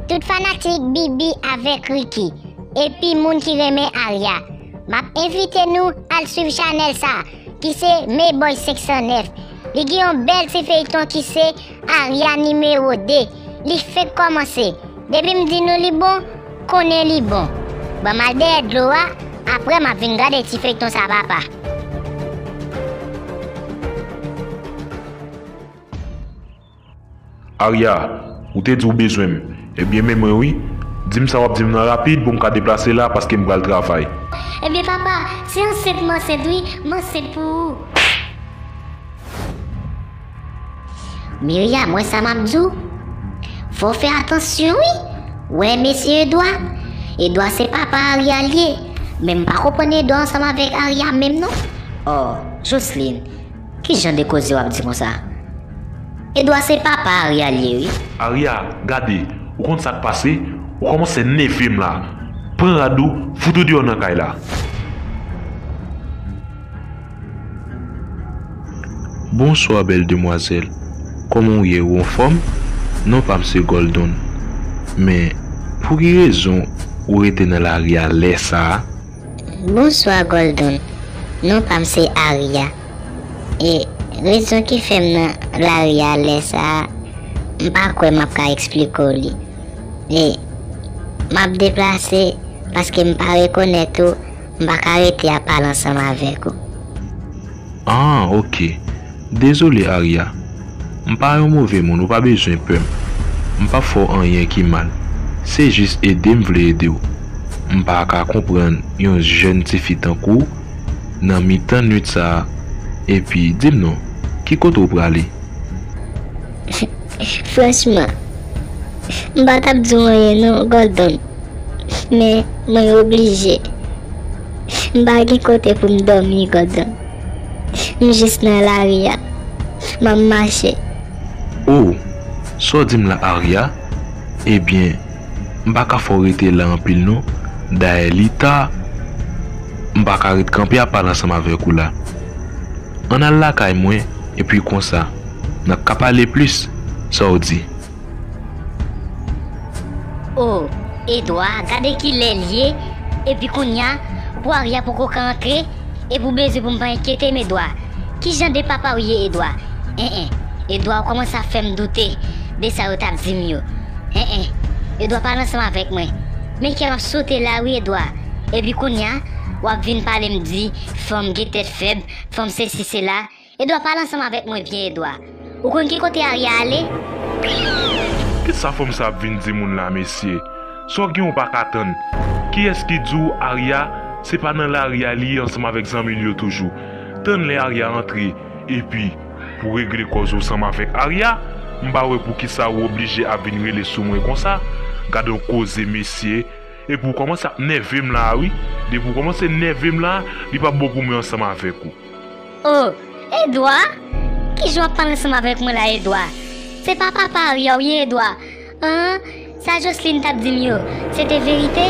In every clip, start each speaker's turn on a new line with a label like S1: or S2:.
S1: Tout fanatik Bibi avèk Ricky epi moun ki renmen Aria map envite nou al swiv chanèl sa ki se Meyboy 509 li gen yon bèl ti feyton ki se Aria nimewo 2 li fenk kòmanse depim di nou li bon konnen li bon banm al dèyè dlo a aprè map vin gade ti feyton sa papa.
S2: Arya, ou te di ou bezwen m, ebyen men mwen wi, di m sa w ap di m lan rapid pou m ka deplase la paske m pral travay. Ebyen papa,
S1: se ansent m ansent wi, m ansent pou ou. Mirya, m wè sa m ap di w, fò w fè atansyon wi, wè mesye Edwa, Edwa se papa Arya l ye, men m pa konprann Edwa ansanm avèk Arya menm non. Ò, Joslin. Ki jan de koze wap di konsa? Edwa se papa Aria li ye wi. Aria gade
S2: ou konn sak pase ou komanse nevem la pran rad ou fout ou deyò nan kay la.
S3: Bonswa bèl demwazèl kòman ou ye ou anfòm non pam se Goldon men pouki rezon ou rete nan lari a lèsa. Bonswa
S1: Goldon, non pam se Aria e rezon ki fèm nan lari a lè sa m pa kwè map ka eksplike w li e map deplase paske m pa rekonèt ou m pa ka rete ap pale ansanm avèk ou.
S3: Ahh ok dezole Aria m pa yon move moun ou pa bezwen pè m m pap fè w anyen ki mal se jis ede m vle ede w m pa ka konprann yon jèn tifi tankou w nan mitan nwit sa epi di m non ki kote w prale.
S1: Franchman m pa tap di w anyen non Gordon men mwen oblije. M pa gen kote pou m dòmi, Gòdon. M jis nan lari a. M ap mache. O!
S3: Sa w di m la, Arya? Ebyen, m pa ka fè w rete la anpil non. Dayè li ta. M pa ka ret kanpe ap pale ansanm avèk ou la. Ann al lakay mwen, epi konsa, n ap ka pale plis. Sa w di?
S1: Oh Edwa gade kilè l ye epi kounya pou Arya poko ka antre epi w bezwen pou m pa enkyete m Edwa ki jan de papa w ye Edwa eh eh Edwa w kòmanse ap fè m doute de sa yo t ap di m yo eh eh Edwa pale ansanm avèk mwen men kè m ap sote la wi Edwa epi kounya w ap vin pale m di fanm gen tèt fèb fanm sesi sela. Edwa pale ansanm avèk mwen vye edwa ou konn ki kote arya ale?
S2: Kisa fanm sa ap vin di moun la mesye Saw gen ou paka tann Kiyès ki diw Aria se pa nan lari a li ye ansanm avèk zanmil yo toujou Tann lè Aria antre epi Pou regle kòz ou ansanm avèk Aria M pa wè poukisa ou oblije ap vin rele sou mwen konsa Gadon koze mesye Epi ou kòmanse ap nèvem la a wi Depi ou kòmanse nèvem la a li pap bon pou mwen ansanm avèk ou. Oh
S1: Edouard? Kijan wap pale ansanm avèk mwen la Edouard? Se pa papa Arya ou ye Edouard? Ahh sa Jocelyne tap dim yo se te verite?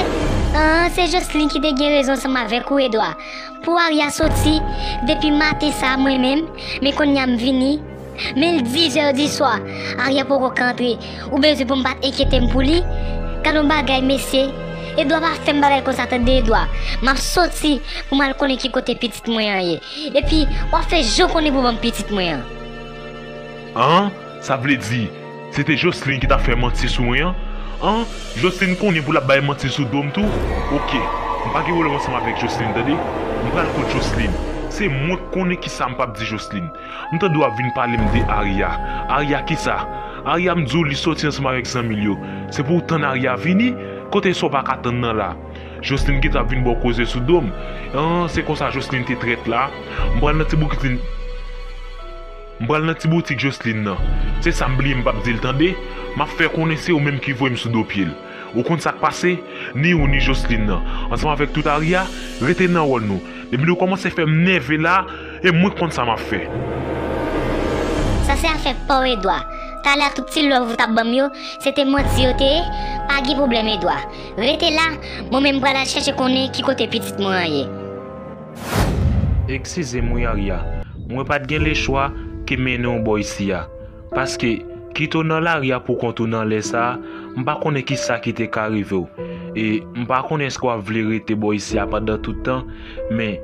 S1: Ahh se Jocelyne ki te gen rezon ansanm avèk ou Edouard pou Arya soti depi maten sa mwen menm men konnya m vini Men l di vè diswa, Aryè poko k antre, ou bezwen pou m pa t enkyete m pou li? Gad yon bagay, mesye! Edwa pa fè m bagay konsa tande, Edwa! M ap soti pou m al konnen ki kote pitit mwen an ye. Epi, w ap fè je w konnen pou w ban m pitit mwen an.
S2: An? Sa vle di, se te Joslin ki t ap fè manti sou mwen an? An? Joslin konnen pou l ap bay manti sou do m tou? Oke, m pa gen pwoblèm ansanm avèk Joslin tande. M pral kot Joslin. Se mwen k konnen ki sa m p ap di Joslin. M tande w ap vin pale m de Aria Aria kisa Aria m di w li soti ansanm avèk zanmi l yo Se pou w tann Aria vini Kote sa w pa ka tann nan la Joslin gentan ap vin ba w koze sou do m An se konsa Joslin te trèt la M pral nan ti boukitlin M pral nan ti boutik Joslin nan Se sa m bliye m p ap di l tande M ap fè konnen se ou menm ki voye m sou do pye l. Ou konn sak pase, ni ou ni Joslin nan, ansanm avèk tout Aria, rete nan wòl nou. Depi nou kòmanse fèm nève la, e mwen konn sa map fè.
S1: Sa se afè paw Edwa, talè a tout ti love ou tap banm yo, se te manti yo te ye, pa gen pwoblèm Edwa, rete la, mwen menm pral al chèche konnen ki kote pitit mwen an ye.
S3: Ekskizem wi Aria, mwen pat gen lechwa ke mennenw bò isi a. Paske, kit ou nan lari a poukont ou nan lè sa a, m pa konnen ki sa ki te ka rive w. E, m pa konnen èske w ap vle rete bò isi a pandan tout tan. Men,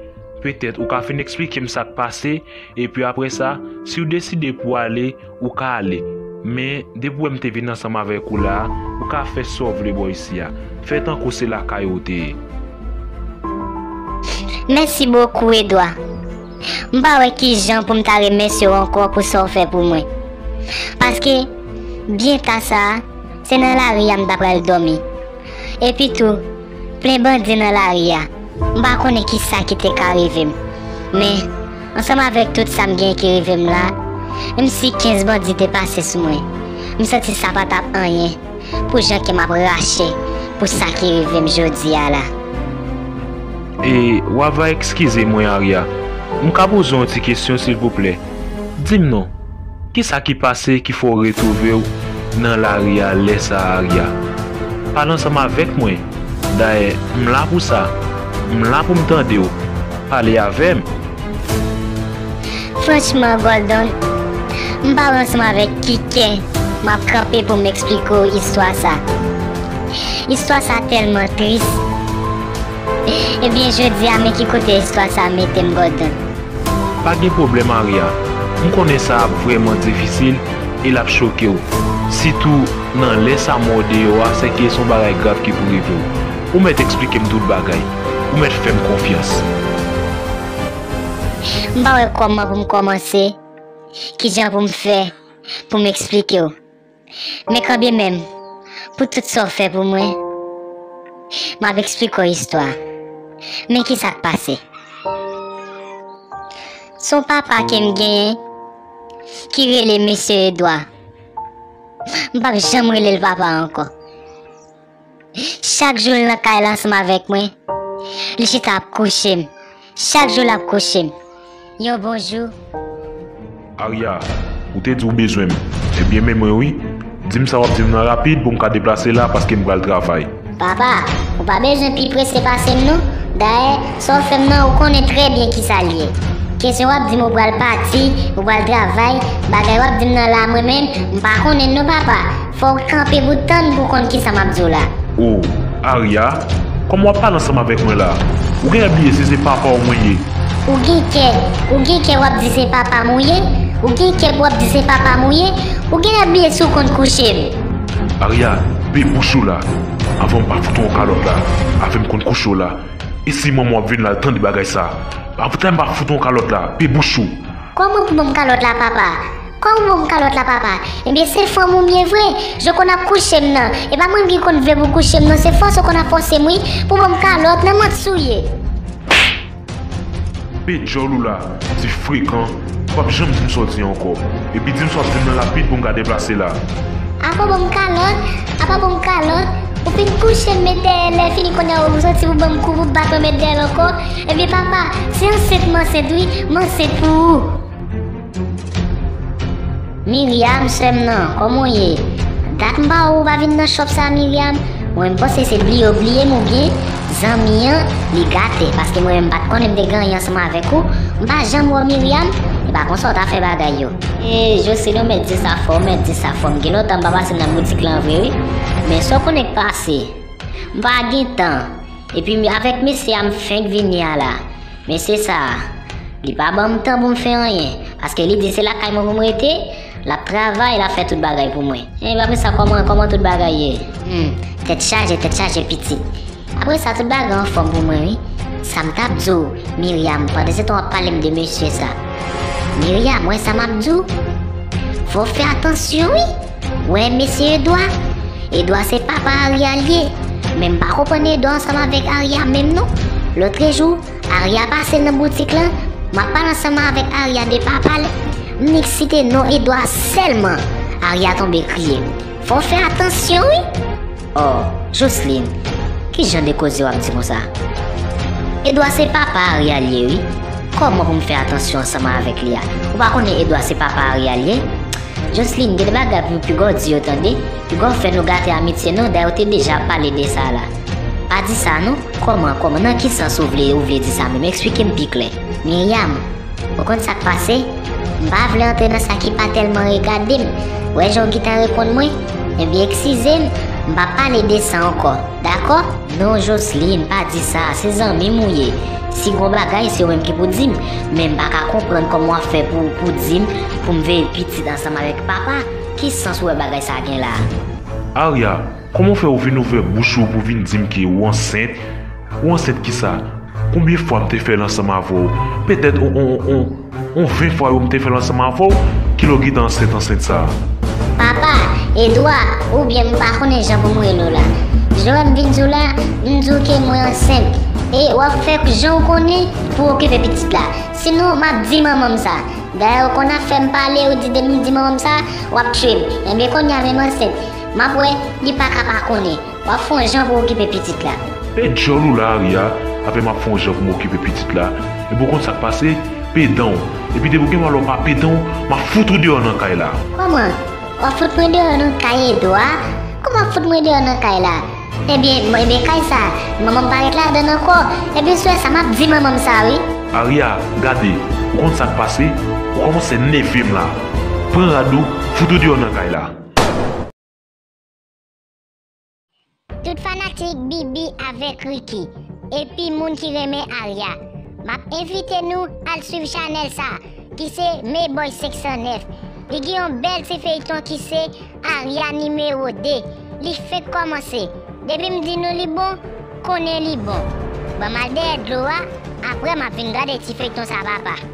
S3: petèt ou ka fin eksplike m sa k pase, epi apre sa, si w deside pou w ale, ou ka ale. Men, depi w wè m te vin ansanm avèk ou la a, ou ka fè sa w vle bò isi a. Fè tankou se lakay ou w te ye.
S1: Mèsi bokou, Edwa. M pa wè kijan pou m ta remèsye w ankò pou sa w fè pou mwen. Paske, byen ta sa a, se nan lari a m ta pral dòmi. Epi tou, plen bandi nan lari a, m pa konnen ki sa ki te ka rive m. Men, ansanm avèk tout sa m gen ki rive m la, menm si 15 bandi te pase sou mwen, m santi sa pa t ap anyen. pou jan kè m ap rache pou sa ki rive m jodi a la. E
S3: wa va ekskize mwen Arya, m ka poze w yon ti kesyon silvouplè? Di m non, ki sa ki pase ki fè w retwouve w nan lari a lè sa a Arya? Pale ansanm avèk mwen, dayè m la pou sa, m la pou m tande w, pale avè m!
S1: Franchman Gordon, m pa wè ansanm avèk ki kè m ap kanpe pou m eksplike w istwa sa. Istwa sa tèlman tris. Ebyen jodi a men ki kote istwa sa mete m Gordon. Pa gen
S3: pwoblèm Aria, m konnen sa ap vrèman difisil e l ap choke w, sitou nan lè sa mwen w deyò a sèke s on bagay grav ki pou rive w. Ou mèt eksplike m tout bagay. Ou mèt fè m konfyans.
S1: M pa wè kòman pou m kòmanse, kijan pou m fè pou m eksplike w. Men kanbyen menm, pou tout sa w fè pou mwen, m ap eksplike w istwa a. Men kisa k pase. S on papa ke m genyen ki rele Mesye Edwa. M p ap janm rele l papa ankò. Chak jou l nan kay la ansanm avèk mwen, li chita ap kouche m. Chak jou l ap kouche m. Yon bon jou.
S2: Arya, ou te di ou bezwen m. Ebyen men mwen wi. Di m sa w ap di m lan rapid pou m ka deplase la paske m pral travay. Papa,
S1: ou pa bezwen pi prese pase m non. Dayè, sa w fè m lan ou konnen trè byen kisa l ye. Kesyon w ap di m ou pral pati, ou pral travay, bagay w ap di m nan la mwen menm, m pa konnen l non papa. Fòw kanpe bout tann pou konn kisa map diw la. Oh
S2: Aria Kòman wap pale ansanm avèk mwen la Ou genlè bliye si se papaw mwen ye. Ou gen kè
S1: Ou gen kè wap di se papam ou ye Ou gen kè pou wap di se papam ou ye Ou genlè bliye si ou konn kouchem. Aria
S2: Pe bouch ou la Avanm pa fout ou yon kalòt la Avèm konn kouchew la E si manmanw ap vin la al tande bagay sa Pa fout ou yon kalòt la Pe bouch ou. Kòman pou banm
S1: kalòt la papa. Kòw boum kalòt la papa. Ebyen se fanm ou m ye vre Je konn ap kouchem nan Epa mwen m ki konn vle pou w kouchem non se fòs ou konn ap fòsem wi Pou banm kalòt nan m'en t souye. Koupe
S2: djòl ou la ti frekan ou pap janm dim sa w t ye ankò epi dim sa w t vin nan lapid pou m ka deplase la. Apa banm
S1: kalòt apa banm kalòt ou fin kouchem met dèyè lè fini kounye a ou soti pou banm kou pou bat mwen met dèyè l ankò ebyen papa si ansent m ansent wi m ansent pou ou. Myriam sèm nan kòman w ye dat m pa wè w ou pa vin nan shop sa Myriam mwen m panse se bliye w bliyem oubyen zanmi an li gate paske mwen menm m pat konnen m te gaye ansanm avèk ou m pa janm wè w Myriam epa konsa w ta fè bagay yo. Eee Jocelyn ou mèt di sa fò ou mèt di sa fò m gen lontan m pa pase nan boutik lan vre wi men sa w konnen k pase m pa gen tan epi avèk mesye a m fenk vini a la. Mesye sa a, li pa ban m tan pou m fè anyen, paske li di se lakay mwen pou m rete, l ap travay, l ap fè tout bagay pou mwen. Enben apre sa kòman, kòman tout bagay ye? Hum, tèt chaje, tèt chaje pitit. Apre sa tout bagay anfòm pou mwen wi. Sa m t ap di w, Myriam, pandansetan w ap pale m de mesye sa. Myriam, wè sa m ap di w? Fò w fè atansyon wi! Wè mesye Edwa, Edwa se papa Arya l ye, men m pa konprann Edwa ansanm avèk Arya menm non. Lotrejou, Arya pase nan boutik lan, m ap pale ansanm avèk Arya de papa l, m nik site non Edwa sèlman, Arya tonbe kriye. Fò w fè atansyon wi! Oh, Joslin, ki jan de koze w ap di konsa? Edwa se papa Arya l ye wi, kòman pou m fè atansyon ansanm avèk li a? Ou pa konnen Edwa se papa Arya l ye? Jocelyn gen de bagay pou Hugo di yo tande, Hugo fè nou gate amitye nou dayè ou te deja pale de sa la. Pa di sa non, kòman, kòman nan ki sans ou vle ou vle di sa menm eksplike m pi klè. Myriam, ou konn sak pase, m pa vle antre nan sa ki pa tèlman regade m, wè jan ou gintan reponn mwen, ebyen eksizem, m pa pale de sa ankò, dakò? Non Joseline pa di sa, se zanmim ou ye, si gon bagay se ou menm ki pou dim, menm pa ka konprann kòman wap fè pou pou dim poum veye pitit ansanm avèk papa, ki sans ou wè bagay sa gen la. Aria,
S2: kòman fè ou vin ouvè bouch ou pou vin dim ke ou ansent, ou ansent kisa, konbyen fwa m te fèl ansanm avèw, pètèt on on on. Ou ven fwa yo m te fè l ansanm avè w, kilè w gin t ansent ansent sa a? Papa,
S1: Edwa, oubyen m pa konnen jan pou m rele w la. Lè m vin di w la, m di w ke mwen ansent. E w ap fè jan w konnen pou w okipe pitit la. Sinon, m ap di manman m sa. Dayè ou konn afè m pale, ou di depi m di manman m sa, w ap tchwe m. Enben konnya menm ansent, m ap wè, li pa ka pa konnen. Wap fon jan pou okipe pitit la. Pe dyòl ou la
S2: aria apè map fon jan poum okipe pitit la epi ou konn sak pase pe danw epi depi ou gen malè ou pa pe danw map fout ou deyò nan kay la. Kòman?
S1: Wap fout mwen deyò nan kay Edwa? Kòman wap fout mwen deyò nan kay la? Ebyen ebyen kay sa manmanm pa ret ladann ankò ebyen sou wè sa map di manmanm sa wi. Aria gade
S2: ou konn sak pase ou kòmansè nèvem la pran rad ou fout ou deyò nan kay la.
S1: Tout fanatik Bibi avèk Ricky epi moun ki renmen Aria map envite nou al swiv chanèl sa ki se Meboy 509 li gen yon bèl ti feyton ki se Aria nimewo 2 li fenk kòmanse depim di nou li bon konnen li bon banm al dèyè dlo a aprè map vin gade ti feyton sa papa.